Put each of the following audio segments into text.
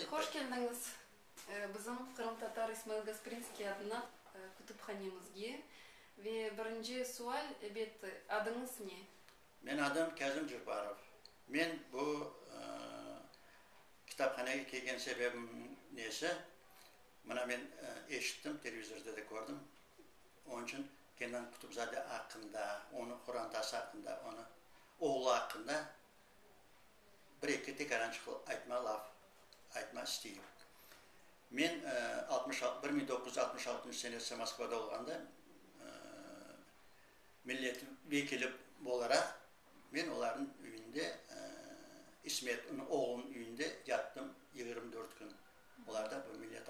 Hoş keldiñiz bizim qırımtatar İsmail Gasprinskiy adına kütüphanemizge. Ve birinci sual, elbette, adıñız ne? Menim adım Kazım Jubbarov. Men bu kitaphanege kelgen sebebim nesi, mına men eşittim, televizorda da kördim. Onıñ içün Kenan Kutubzade aqqında, onıñ Quran Tası aqqında, onıñ oğlu aqqında Bir-eki tek arançıqlı aytma laf, aytma stil. Men altmış altı, bir mıñ doquz yüz altmış altıncı senesi Moskvada olğanda, millet vekili olaraq men olarnıñ üyünde, İsmet oğlunıñ üyünde yattım yigirmi dört kün. Olarda bu millet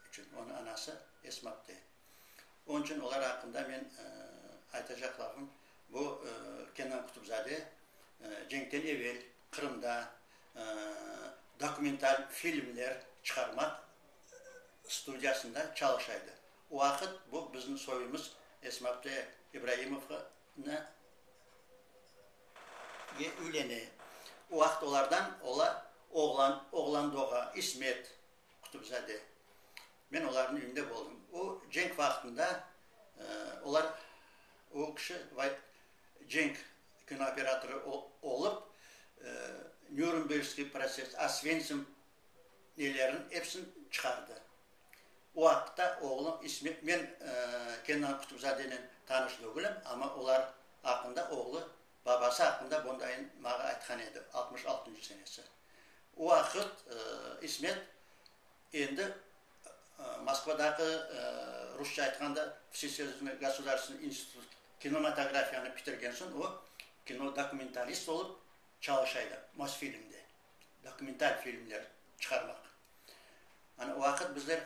içün. Onıñ anası Esmabte. Onıñ içün olar aqqında men aytacaqlarım, bu Kenan Kutubzade cenkten evel Qırımda dokumental filmler çıqarmaq studiyasında çalışa edi. O vaqıt bu bizim soyumız Esmabte İbraimovnıñ üleni. O vaqıt olardan oğlan, oğlan doğa, İsmet. Qutubzade. Men olarnıñ ününde boldım. O cenk vaqtında olar, o kişi cenk kinooperatorı olıp, Nürnbergskiy protsess, Osventsim nelerin epsin çıqardı. O aqta oğlu, men Kenan Qutubzadenen tanış degülim, amma olar aqında oğlu Babası aqqında bundayın mağa aytqan edi, altmış altıncı senesi. O vaqıt İsmet endi Moskvadaki, rusça aytqanda, Vsesoyuznıy gosudarstvenıy institut kinomatografiyanı pitirgen soñ, o kinodokumentalist olıp çalışa edi Mosfilmde, dokumental filmler çıqarmaq. Ana o vaqıt bizler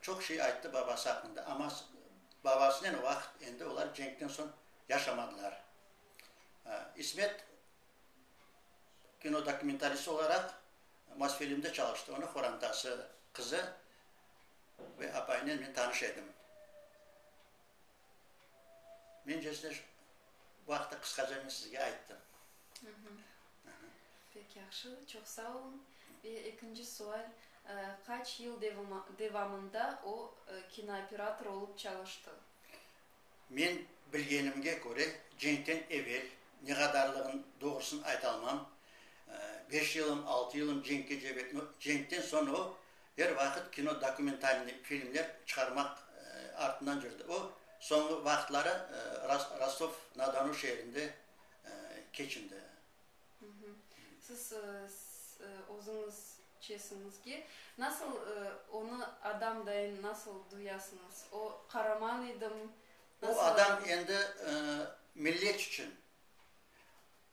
çoq şey ayttı babası aqqında, amma babasınen o vaqıt endi olar cenkten soñ yaşamadılar. İsmet kino dokumentalist olaraq Mosfilmde çalıştı. Onıñ qorantası, qızı ve apayınen men tanış edim. Mence size bu aqta qısqaca men sizge ayttım. Pek yahşı, çoq sağ olun. Ve ekinci sual, qaç yıl devamında o kinooperator olıp çalıştı? Men bilgenimge köre, cenkten evel, ne qadarlığın doğrusını aytalmam, beş yılım, altı yılım cenkke cep et, no, cenkten soñ o, er vaqıt kino dokumentalnıy filmler çıqarmaq artından yürdi. O, soñğı vaqıtları Rostov-na-Donu şeerinde keçindi. Siz özüñiz çesiñizge nasıl onı adam dayın nasıl duyasıñız? O qaraman edim, nasıl? O adam endi millet içün.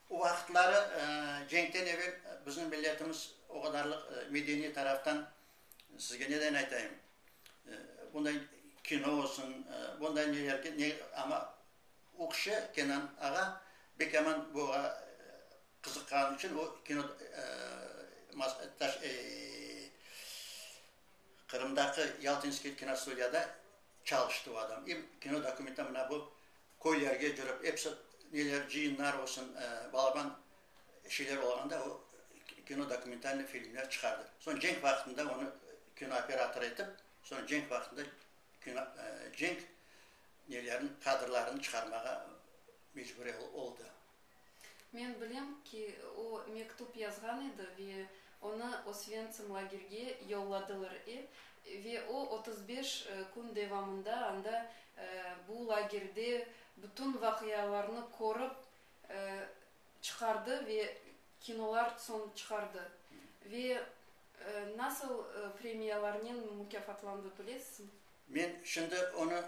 O vaqıtları cenkten evel bizim milletimiz o qadarlıq medeniy taraftan sizge neden aytayım, bunday kino olsun, bunday neler, amma Ökçe Kenan ağa bek yaman buğa qızıqqanı içün o kino Qırımdaki Yaltinskiy kinostudiyada çalıştı o adam. Em kino dokumenta mına bu köylerge cürip episi neler cıyınlar olsun balaban şeyler olğanda o kino dokumentalnıy filmler çıqardı. Soñ cenk vaqtında onı kino operator etip soñ cenk vaqtında cenk nelerini, kadrlarını çıqarmağa mecbur oldı. Men bilem ki, o mektüp yazğan edi ve onı Osventsim lagerge yolladılar e, ve o otuz beş kün devamında anda, bu lagerde bütün vaqialarnı körip, çıqardı ve kinolar soñ çıqardı ve nasıl premiyalarnen mukâfatlandı bilesizmi? Men şimdi onı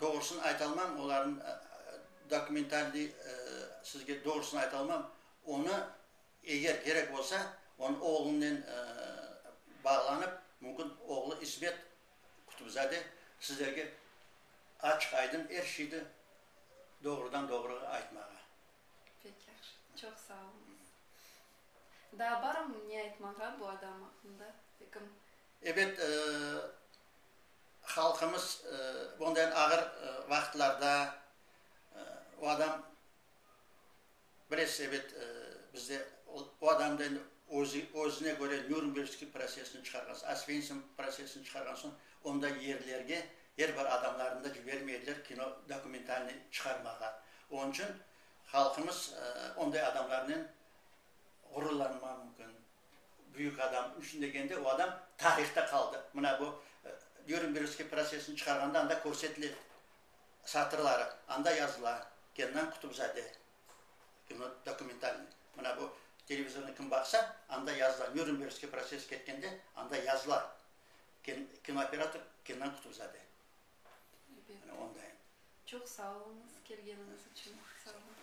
doğrusını aytalmam, olarnı dokumentalnıy sizge doğrusını aytalmam. Onı eger kerek olsa, onı oğlunen bağlanıp, mümkün oğlu İsmet Kutubzade sizlerge açıq-aydın er şeydi doğrudan-doğru aytmağa. Pek yahşı, çoq sağ oluñız. Daa barmı ne aytmağa bu adam aqqında? Ekim. Ebet, halqımız bundayan ağır vaqıtlarda o adam. Bilesiz, ebet, bizde o adam da endi özü, özüne köre Nürnbergskiy protsessini çıqarğan soñ, Osvensim protsessini çıqarğan soñ, onda yerlerge er bir adamlarnı da cibermey ediler kino dokumentalnıy çıqarmağa. Onıñ içün halqımız onday adamlarnen ğururlanmağı mümkün. Büyük adam içün degende o adam tarihta qaldı. Mına bu Nürnbergskiy protsessini çıqarğanda anda körsetile edi. satırları anda yazıla, Kennan Kutubzade, kino dokumentalnıy, mına bu televizornı kim baqsa, anda yazıla, Nürnbergskiy proses ketkende anda yazıla, kinooperator Kennan Kutubzade. Mına onday. Çoq sağ oluñız, kelgeniñiz içün sağ oluñ.